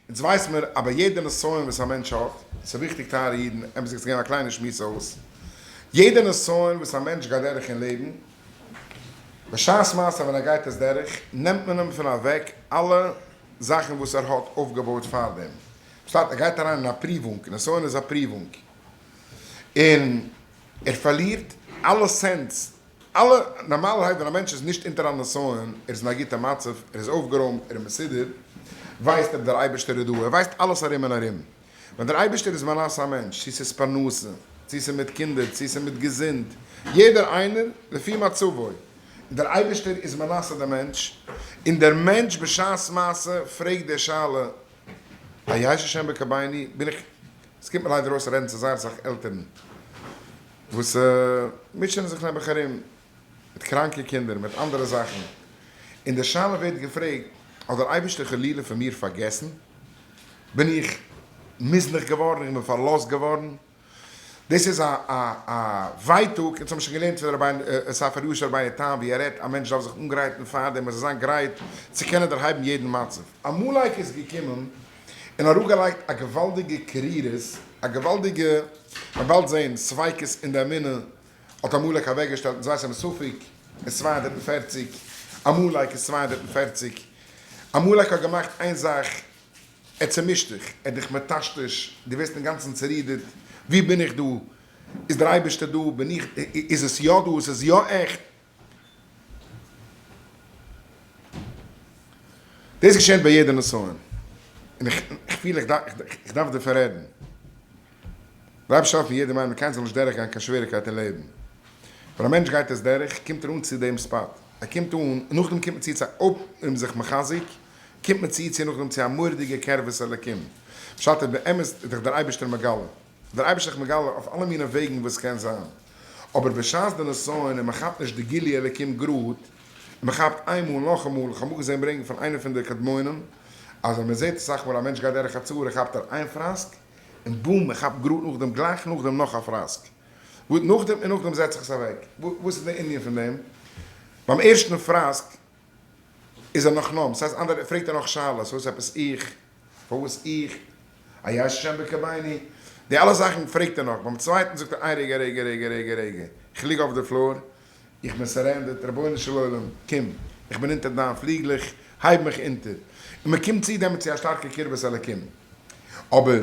אונז ווייס מיר אז ביי יעדע נסיון וואס א מענטש האט, ס'איז וויכטיג טייערע אידן, עפעס איז געווען א קליינע שמועס אויס, יעדע נסיון וואס א מענטש גייט דורך אין לעבן, בשעת מעשה ווען ער גייט עס דורך, נעמט מען אים פון אוועק אלע זאכן וואס ער האט אויפגעבויט פאר דעם, פשט ער גייט אריין אין א פריוואונג, נסיון איז א פריוואונג, און ער פארלירט אלע סענס אלע, נארמאלערהייט ווען א מענטש איז נישט אונטער א נסיון, ער איז אין א גוטע מצב, ער איז אויפגערוימט, ער איז מסודר, ווייסט ער דער אייבערשטער איז דא, ער ווייסט אלעס ארום און ארום. ווען דער אייבערשטער איז מנסה א מענטש, צו ס'איז פרנסה, צו ס'איז מיט קינדער, צו ס'איז מיט געזונט, יעדער איינער לפי מצבו, און דער אייבערשטער איז מנסה דעם מענטש, און דער מענטש בשעת מעשה פרעגט די שאלה, היעיש השם בקרביני, בין איך, ס'קומט מיר ליידער אויס רעדן צו זייער אסאך עלטערן, וואס מוטשענען זיך נעבעך ארום מיט קראנקע קינדער, מיט אנדערע זאכן, און די שאלה ווערט געפרעגט, האט דער אייבערשטער חלילה פון מיר פארגעסן? בין איך מוזנח געווארן? איך בין פארלאזט געווארן? דאס איז א ווייטאג, אונז האבן שוין געלערנט פון רבי'ן ספר ישר רבי'ן תם ווי ער רעדט, א מענטש דארף זיך אנגרייטן פארדעם, ער זאל זיין גרייט צו קענען דערהייבן יעדן מצב. א מלאך איז געקומען און אראפגעלייגט א געוואלדיגע קרירות, א געוואלדיגע, מען וועלט זעהן, ספיקות אין די אמונה, האט עמלק אוועקגעשטעלט אין זיי ס'מספיק איז צוויי הונדערט און פֿערציק, עמלק איז צוויי הונדערט און פֿערציק, עמלק האט געמאכט איין זאך, ער האט צומישט דיך, ער האט דיך מטשטש, דו ווערסט אינגאנצן צורידערט, וואו בין איך דא? איז דער אייבערשטער דא? בין איך, איז עס יא דא? איז עס יא עכט? דאס געשעהט ביי יעדע נסיון, און איך פיל איך דארף דערפון רעדן. רב שך פון יעדער מיינונג קיינס זאל נישט דורך גיין קיין שוועריקייט אין לעבן. ווען א מענטש גייט עס דורך קומט ער אן צו דעם ספאט, ער קומט אן און נאכדעם קומט מען צו צו א אויב איז זיך מחזק קומט מען צו צו נאכדעם צו א מורא'דיגע קרבת אלקים בשעת באמת איז דיך דער אייבערשטער מגלה. דער אייבערשטער איז מגלה אויף אלע מיני וועגן וואס ס'קען זיין, אבער בשעת די נסיון און מ'כאפט נישט די גילוי אלוקים גראד, און מ'כאפט איינמאל און נאכאמאל, איך האב אמאל געזען ברענגען פון איינער פון די קדמונים, אז ווען מ'זעט אסאך מאל א מענטש גייט דורך א צרה כאפט ער איין פראסק, און בום מ'כאפט גראד נאכדעם גלייך נאכדעם נאך א פראסק, וואס נאכדעם און נאכדעם זעט זיך עס אוועק, וואס איז די ענין פון דעם? ביים ערשטן פראסק איז ער נאך נאנט, סאיז אנדערע פרעגט ער נאך שאלות וואס עפעס איך, פארוואס איך, היש שם בקרביני, די אלע זאכן פרעגט ער נאך, ביים צווייטן זאגט ער איי רגע רגע רגע רגע רגע, איך ליג אויף די פלאר, איך בין סערענדערט, רבונו של עולם קום, איך בין אונטער דיין פליגלעך, הייב מיך אונטער, און מען קומט צו דעמאלט צו א שטארקע קרבת אלקים, אבער.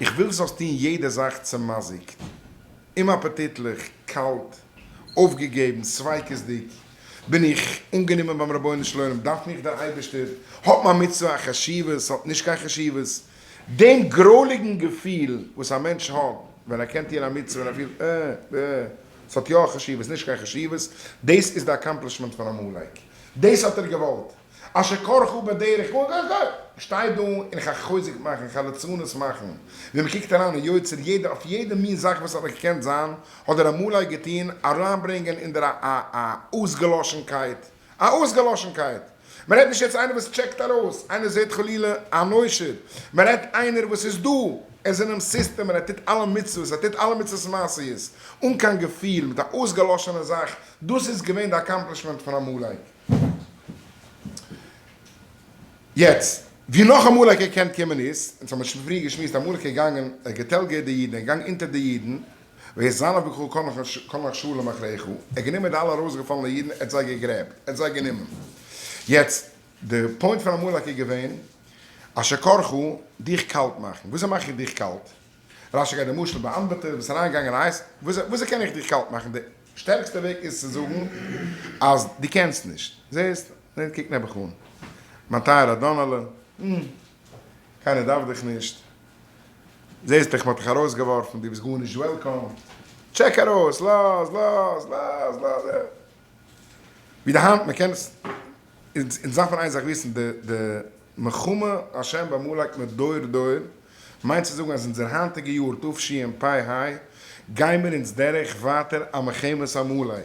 איך וויל זאלסט טון יעדע זאך צעמאזיקט, אומאפעטיטליך, קאלט, אויפגעגעבן, ספיקות'דיג. בין איך אנגענומען ביים רבונו של עולם? דארף מיך דער אייבערשטער? האט מיין מצוה א חשיבות? האט נישט קיין חשיבות? דעם גרויליגן געפיל וואס א מענטש האט ווען ער קען טון א מצוה און ער פילט אה, ב ה עס האט יא א חשיבות, נישט קיין חשיבות, דאס איז די אקאמפלישמענט פון עמלק. דאס האט ער געוואלט. אשר כרכו בדרך איך שטיי דא און איך הער חוזק מאכן, איך הער לצנות מאכן, ווי מען קוקט אריין אין יוצר יעדע אויף יעדע מין זאך וואס האט געקענט זיין האט דער עמלק געטון, אריינברענגען אין דער א א א אויסגעלאשנקייט, א אויסגעלאשנקייט, מען רעדט נישט יעצט איינער וואס טשעקט ארויס, איינער זעט חלילה אן עושר, מען רעדט איינער וואס איז דא, ער איז אינעם סיסטעם און ער טוט אלע מצוות, ער טוט אלע מצוות מעשיות, אן קיין געפיל, מיט א אויסגעלאשענע זאך, דאס איז געווען די אקאמפלישמענט פון עמלק. יעצט ווי נאך אמאליגער קען קומען איז, אונז האמיר שוין פריער געשמועסט, אמאליגער געגאנגען ער געטעלגערט די אידן, ער געגאנגען אונטער די אידן, ויהי זנב וקחו כל נחשו למחרחו, ער האט גענומען די אלע ארויסגעפאלענע אידן, ער האט זיי געגרעבט, ער האט זיי גענומען. יעצט די פוינט פון אמאליגער איז געווען, אשר כרכו, דיך קאלט מאכן, וויאזוי מאך איך דיך קאלט? רשי געבט די משל באמבעטע וואס איז אריינגעגאנגען אין הייס, וויאזוי קען איך דיך קאלט מאכן? שטערקסטע וועג איז צו זאגן אז דו קענסט נישט. זעסט? נו קוק נעבעך אן. מיין טייערער דונעלע. הום. קיינער דארף דיך נישט. זעסט דאך מ'האט דיך ארויסגעווארפן. דו ביסט גארנישט וועלקאם. טשעק ארויס. לאז. לאז. לאז. לאז. ווי די האנט. מ'קען עס. אונז דארפן איין זאך וויסן. די. די. מלחמה השם בעמלק מיט דור דור מיינט צו זאגן אז אונזער היינטיגע יאר תשפ ה גיימיר אונז דערעך ווייטער א מלחמת עמלק,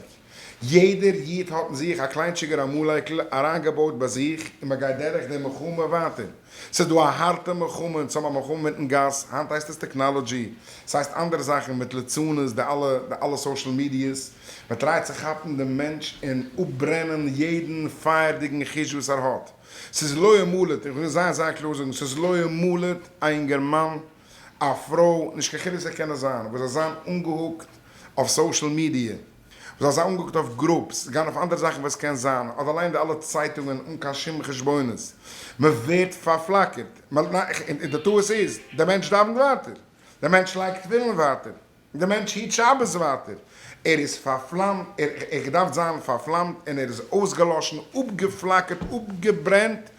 יעדער איד האט אין זיך א קליינטשיגער עמלק'ל אריינגעבויט ביי זיך און מען גייט דערעך די מלחמה ווייטער, ס'איז דא א הארטע מלחמה אונז האבן א מלחמה מיטן גאס, היינט הייסט עס טעקנאלעדזשי, ס'הייסט אנדערע זאכן מיט ליצנות די אלע די אלע סאושעל מידיעס, מען טרייט צו כאפן דעם מענטש און אפברענען יעדן פייערדיגן חוש וואס ער האט. ס'איז לא ימלט, איך וויל זייער זייער קלאר זאגן, ס'איז לא ימלט א אינגערמאן, א פרוי, נישט קיין חילוק זיי קענען זיין, וואס זיי זיין אנגעהוקט אויף סאושעל מידיע, וואס זיי זיין אנגעהוקט אויף גרופס, גיין אויף אנדערע זאכן וואס קען זיין, אדער ליינען די אלע צייטונגען אן קיין שום חשבונות, מ'ווערט פארפלאקערט, און די טעות איז, דער מענטש דאווענט ווייטער, דער מענטש לייגט תפילין ווייטער. דער מענטש היט שבת ווייטער, ער איז פארפלאמט, ער געדארפט זיין פארפלאמט און ער איז אויסגעלאשן, אפגעפלאקערט, אפגעברענט,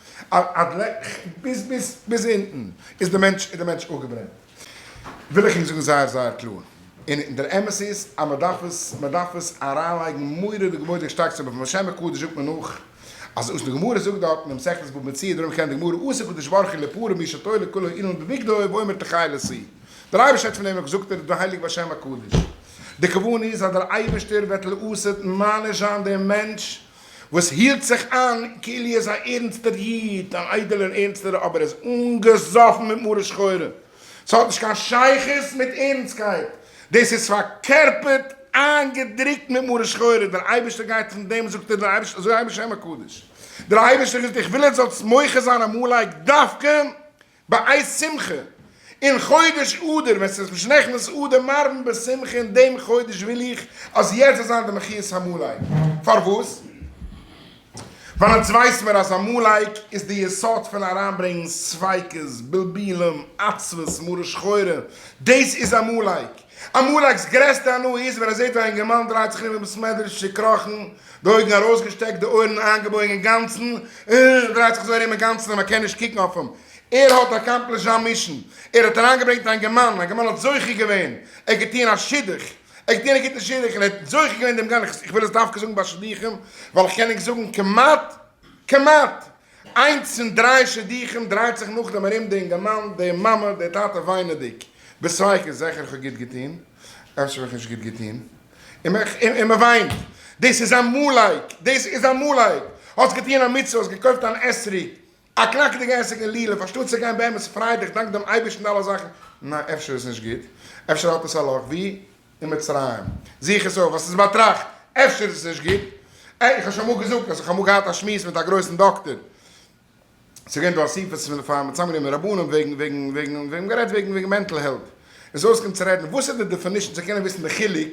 ביז ביז ביז אונטן איז דער מענטש איז דער מענטש אפגעברענט, וויל איך אונז זאגן זייער זייער קלאר, און דער אמת איז אז מען דארף עס מען דארף עס אריינלייגן מורא וכבוד און שטארק צו, בשם הקדוש זאגט מען נאך. אזוי ווי די גמרא זאגט דארט אין מסכת בבא מציעא, דערום קען די גמרא עשה קדוש ברוך הוא לפרו משעתו לכולו אילן בבגדו ואומר תחי לסי'. דער אייבערשטער האט פון דעם געזאגט ער איז דא הייליג בשם הקדוש. די כוונה איז אז דער אייבערשטער וועט לעתיד מעניש זיין דעם מענטש וואס היט זיך איין כאילו ער איז א ערנסטער איד, אן איידעלער ערנסטער אבער ער איז אנגעזאפן מיט מרה שחורה. ס'האט נישט קיין שייכות מיט ערנסטקייט, דאס איז פארקערפערט איינגעדרוקט מיט מרה שחורה, דער אייבערשטער גייט פון דעם זאגט ער דער אייבערשטער אזוי הייב השם הקדוש, דער אייבערשטער וויל איך וויל עטס זאלטס מוחה זיין עמלק דווקא בעת שמחה, אין חודש אדר ווען ס'איז נישט נכנס אדר מרבין בשמחה אין דעם חודש וויל איך אז יעצט זאל זיין די מחיית עמלק, פארוואס? ווייל אונז ווייס מיר אז אמאל לייק איז די יסוד פון אריינברענגן ספיקות, בלבולים, עצבות, מרה שחורה, דאס איז אמאל לייק. אמאל לייק'ס גרעסטע הנאה איז ווען ער זעט ווי א אינגערמאן דרייט זיך ארום אין בית מדרש צוקראכן, די אויגן ארויסגעשטעקט, די אויערן איינגעבויגן אינגאנצן, ער דרייט זיך אזוי ארום אינגאנצן אז מען קען נישט קוקן אויף אים, ער האט אקאמפלישט זיין מישן, ער האט אריינגעברענגט א אינגערמאן, אינגערמאן האט זוכה געווען, ער האט געטון א שידוך, איך דיע ניגוט נישט און איך וועל זוכה געווען דעם גאנעכסט, איך וויל עס דווקא זאגן ביי שידוכים ווייל איך קען נישט זאגן כמעט, כמעט, איינס פון דריי שידוכים דרייט זיך נאכדעם ארום די אינגערמאן, די מאמע, די טאטע וויינעדיג בספק איז זעכער איך האב גוט געטון, אפשר האב איך נישט גוט געטון, און מען וויינט, דאס איז עמלק, דאס איז עמלק, האסט געטון א מצוה, האסט געקויפט אן אתרוג, א קנאקעדיגע עסק אין לעלוב אנשטאט צו גיין באמת פריי דיך דאנק דעם אייבערשטן די אלע זאכן, ניין אפשר איז נישט גוט, אפשר האט עס א לאך ווי אין מצרים, זוך עס אויף וואס איז באטראכט, אפשר איז עס נישט גוט, עה איך האב שוין אמאל געזאגט אז איך האב אמאל געהאט א שמועס מיט א גרויסן דאקטער, ס'איז געווען דא אסיפות פון די פארם צוזאמען גענומען רבנים וועגן וועגן וועגן וועגן מ'האט גערעדט וועגן וועגן מענטל העלט, איז אויסגעקומען צו רעדן וואס איז די דעפענישן צו קענען וויסן די חילוק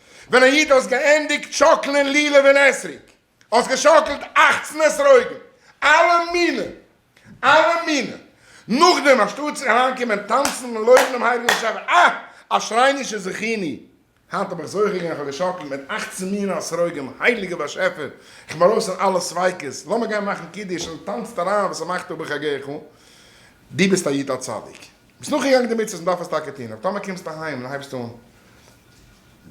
ווען א איד האסט געענדיגט שאקלען לולב און אתרוג, האסט געשאקלט אַכצן אתרוגים, אלע מיני, אלע מיני, נאכדעם אנשטאט צו אריינקומען טאנצן און לויבן דעם הייליגן באשעפער, אה! אשרי'נישע זכיני, היינט האב איך זוכה געווען, כ'האב געשאקלט מיט אַכצן מיני אתרוגים, הייליגער באשעפער, כ'בין ארויס פון אלע ספיקות, לאמיר גיין מאכן קידוש און טאנצט אריין וואס ס'מאכט אויב איך גיי איך אן, דו ביסט א איד א צדיק. ביסט נאכגעגאנגען די מצוות און דארף עס טאקע טון, אבער טאמער קומסטו אהיים און הייבסט אן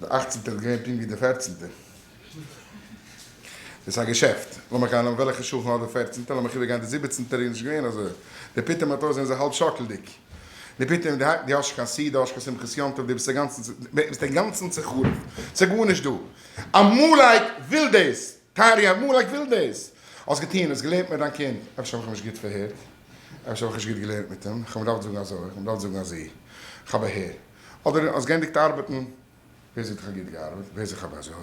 די אכצנטע איז געווען פונקט ווי די פערצנטע, איז עס א געשעפט, לאמיך גיין וועלכע שכן האט די פערצנטע, לאמיך איבערגיין די זיבעצנטע, איז נישט געווען אזוי, די פתאום האט אויס זענען זיי האלב שאקלדיג, די פתאום די האסט נישט קיין סי', די האסט נישט קיין שמחת יום טוב, די ביסט אינגאנצן צו, ביסט אינגאנצן צו חרוב, ס'איז גארנישט דא, אמאל וויל דאס, טערי, אמאל איך וויל דאס. האסט געטון, האסט געלערנט מיט דיין קינד. אפשר האב איך נישט גוט פארהערט. אפשר האב איך נישט גוט געלערנט מיט אים. איך האב געדארפט זאגן אזוי, איך האב געדארפט זאגן אזי. איך האב אהער. אדער האסט געענדיגט ארבעטן. ווער זאגט איך האב גוט געארבעט? ווער זאגט איך האב אזוי?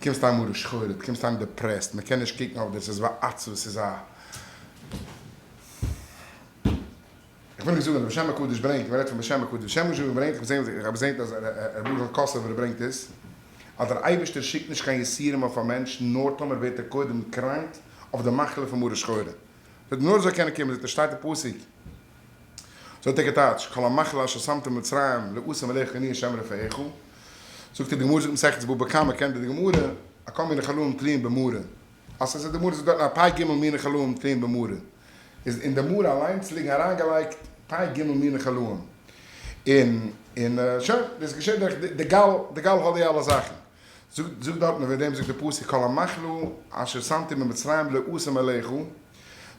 קומסט אהיים מרה שחורה, קומסט אהיים דעפרעסט, מען קען נישט קוקן אויף דיר, ס'איז ווי א עצבות, ס'איז א. איך וויל נישט זאגן אז בשם הקדוש ברענגט, מען רעדט פון בשם הקדוש, בשם משה רבנו ברענגט, איך האב געזען געזען אז ר' ברוכ'ל קאסובער ברענגט עס, אז דער אייבערשטער שיקט נישט קיין יסורים אויף א מענטש נאר טאמער ווערט ער קודם קראנק אויף די מחלה פון מרה שחורה, זאגט נאר ער זאל קענען קומען, זאגט ער שטייט אין פסוק, זאגט ער געטייטש, כל המחלה אשר שמתם על מצרים לעשום עליכם אני השם רפאיך, זאגט ער די גמרא זאגט מסכת בבא קמא קענט איר די גמרא, הקום מן החלום תלין במרה. אז עס איז די מרא זאגט דארטן א פ ג מיני חלאים טעם במרא איז אין די מרא אליינס ליגן אריינגעלייגט פ ג מיני חלאים און און שוין דאס געשעט דורך די גל די גל האט די אלע זאכן זאגט זאגט דארטן וועגן דעם זאגט די פסוק כל המאכלו אשר שמתי במצרים לא אשים עליכו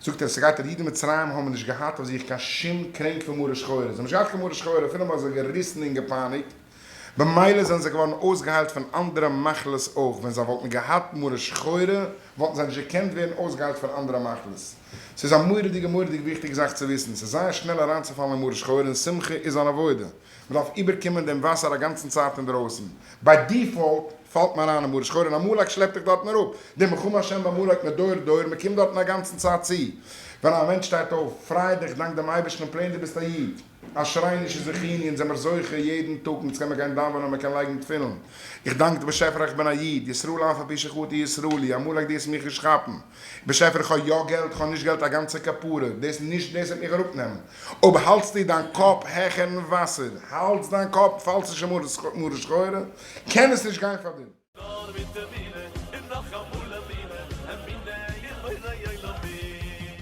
זאגט ער ס'גייט אויף די אידן מצרים האבן נישט געהאט אויף זיך קיין שום קרענק פון מרה שחורה זיי האבן נישט געהאט קיין מרה שחורה אפילו מען האט זיי געריסן און געפייניגט במילא זענען זיי געווארן אויסגעהיילט פון אנדערע מחלות אויך, ווען זיי וואלטן געהאט מרה שחורה וואלטן זיי נישט געקענט ווערן אויסגעהיילט פון אנדערע מחלות. ס'איז א מורא'דיגע מורא'דיג וויכטיגע זאך צו וויסן, ס'איז זייער שנעל אריינצופאלן אין מרה שחורה און שמחה איז אן עבודה, מ'דארף איבערקומען דעם וואסער א גאנצן צייט אינדערויסן, ביי דיפאלט פאלט מען אריין אין מרה שחורה און עמלק שלעפט דיך דארטן אראפ, די מלחמה השם בעמלק מדור דור, מ'קומט דארטן א גאנצן צייט צו, ווען א מענטש שטייט אויף, פריי דיך, דאנק דעם אייבערשטן און פלעין דו ביסט א איד. א שריינישע זכיני אונז זעמער זוכה יעדן טאג אונז קען מען גיין דאווענען מען קען לייגן תפילין איך דאנק די באשעפער איך בין א איד ישראל אף על פי שכותי ישראלי אמאל לייגט דאס מיך נישט כאפן באשעפער איך האב יא געלט איך האב נישט געלט א גאנצע כפרה דאס נישט דאס וועט מיך אראפ נעמען אויב האלטסטו דיין קאפ העכערן וואסער האלטס דיין קאפ פאלסט נישט אין מרה שחורה קען עס נישט גיין פאר דיר. נאר מיט אמונה און נאך אמאל אמונה, אמונה אין בורא עולמים.